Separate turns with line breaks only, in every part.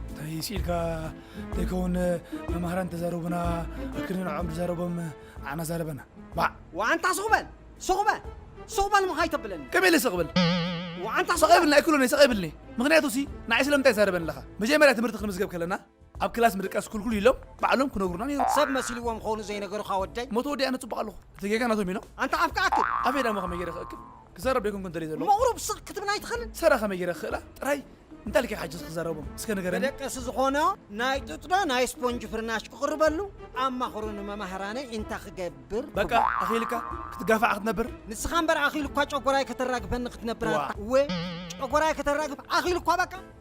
እንታይ ስኢልካ ዘይከውን መማህራን ተዛረቡና ኣክል ንዕኦም ዝዛረቦም ኣና ዛረበና ባዕ ወኣንታ ሱቕ በል
ሱቕ በል ሱቕ በል ምኻይ ተብለኒ ከመይ ኢለ ስቕ ብል
ወኣንታ ስቕ
ይብልኒ ኣይክእሎን እየ ስቕ
ይብልኒ ምክንያቱ ሲ ንዓይ ስለምንታይ ይዛረበኒ ኣለኻ መጀመርያ ትምህርቲ ክንምዝገብ ከለና ኣብ ክላስ ምድቃስ ክልኩሉ ኢሎም ባዕሎም ክነግሩና ነይሩ ሰብ መሲልዎም ክኾኑ
ዘይነገሩኻ ወደይ ሞተ ወዲኣ ንፅቡቕ ኣለኹ
እቲ ጌጋ ናቶም ኢሎም ኣንታ ኣፍካ ኣክል
ኣፈይ ዳሞ ከመይ ገይረ
ክእክብ ክዛረብ ዶ ኣይኮንኩን ደልየ ዘለኹ? መቕሩብ ስቕ ክትብል ኣይትኽእልን?
ሰራ ከመይ ገይረ ክኽእላ?
ጥራይ እንታይ ኢልካ ኢኻ ሕጂ ክትዛረቦም? እስከ ንገረኒ። መደቀሲ ዝኾኖ
ናይ ጡጥ ዶ ናይ ስፖንጅ ፍርናሽ ክቕርበሉ? ኣማኽሩኒ መማህራነይ እንታይ ክገብር ትብሉ? በቃ ኣኺሉካ
ክትጋፋዕ ክትነብር? ንስኻ እምበር ኣኺሉካ
ጨጎራይ ከተራግፈኒ ክትነብር ኣታ። እወ ጨጎራይ ከተራግፍ ኣኺሉካ በቃ።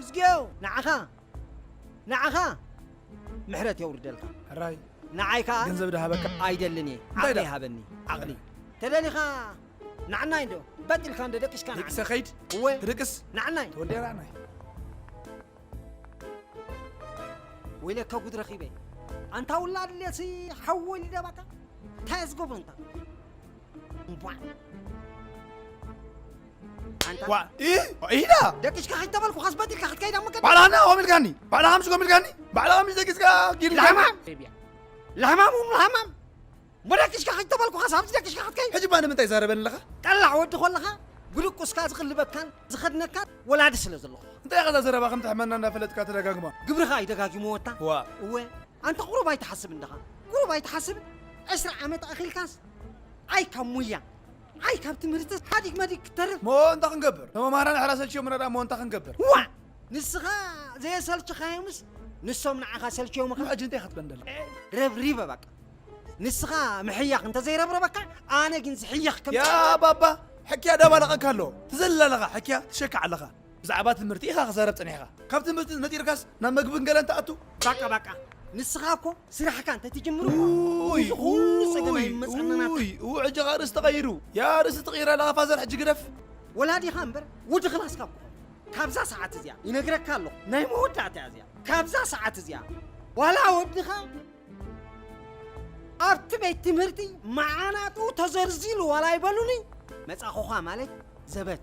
እዝጌው ንዓኻ ንዓኻ ምሕረት የውርደልካ ሕራይ ንዓይ
ከዓ ገንዘብ
ድሃበካ
ኣይደልን እየ እንታይ ዓቕሊ
ዳ? ሃበኒ ዓቕሊ ተደሊኻ ናዕናይ እንዶ በጥ ኢልካ እንዶ ደቂስካ ናዕናይ ደቂሰ ከይድ እወ
ትድቅስ ናዕናይ ተወልደ
ራዕናይ ወይለካ ጉድ ረኺበ ኣንታ ውላድ ሌሲ ሓዊ ወሊደባካ እንታይ እያ ዝገብሮ እንታ ዋ ኢ
ኢላ ደቂስካ ከይተበልኩ ከስበት
ኢልካ ክትከይድ ኣብ መገዲ ባዕላ ሃና ኦም ኢልካኒ
ባዕላ ሃምስ ኮም ኢልካኒ ባዕላ ሃምስ ደቂስካ ጊልካ ለሕማም ቢያ ለሕማም እም
ለሕማም እሞ ደቂስካ ከይተበልኩ ከስ ኣብዚ ደቂስካ ክትከይድ ሕጂ እባ ንምንታይ ዛረበኒ ኣለኻ
ጠላዕ ወዲ
ኮለኻ ብድቁስካ ዝኽልበካን ዝኸድነካን ወላዲ ስለ ዘለኹ እንታይ ኢኻ እዛ ዘረባ ከም
ትሕመና እንዳፈለጥካ ተደጋግማ ግብርኻ እዩ ደጋጊሙ
ወታ ዋ እወ
ኣንታ ቁሩብ
ኣይትሓስብን ድኻ? ቁሩብ ኣይትሓስብን? ዕስራ ዓመት ኣኺልካስ ኣይ ካብ ሙያ ኣይ ካብ ትምህርትስ ሓዲግ መዲግ ክትተርፍ እሞ እንታይ ክንገብር? እቶም
ኣምሃራ ንሕና ሰልችዮምና ድኣ እሞ እንታይ ክንገብር? ዋእ!
ንስኻ ዘየሰልችኻዮምስ ንሶም ንዓኻ ሰልችዮምኻ? ሕጂ እንታይ ኢኻ ትብል ዘለኻ?
ረብሪበ
በቃ ንስኻ ምሕያኽ እንተዘይረብረበካ ኣነ ግን ዝሕየኽ ከም ያ ባባ ሕክያ
ዳባላቐካ ኣሎ ትዘልል ኣለኻ ሕክያ ትሸካዕ ኣለኻ ብዛዕባ ትምህርቲ ኢኻ ክዘረብ ጸኒሕካ ካብ ትምህርቲ ነጢርካስ ናብ መግብን ገለን ትኣቱ። ባቃ ባቃ
ንስኻ እኮ ስራሕካ እንተ ትጅምር እኮ ኡይ እዚ ኩሉ ጸገም ኡይ ኣይመጻና ናትካ ኡይ ኡይ ሕጂ ከኣ ርእሲ
ተቐይሩ ያ ርእሲ ትቕይር ኣለኻ ፋዘር ሕጂ ግደፍ። ወላዲኻ እምበር
ወዲ ክላስካ እኮ ኾንኩ ካብዛ ሰዓት እዚኣ ይነግረካ ኣለኹ ናይ መወዳእታ እያ እዚኣ ካብዛ ሰዓት እዚኣ ዋላ ወድኻ ኣብቲ ቤት ትምህርቲ መዓናጡ ተዘርዚሉ ዋላ ይበሉኒ መጻኹኻ ማለት ዘበት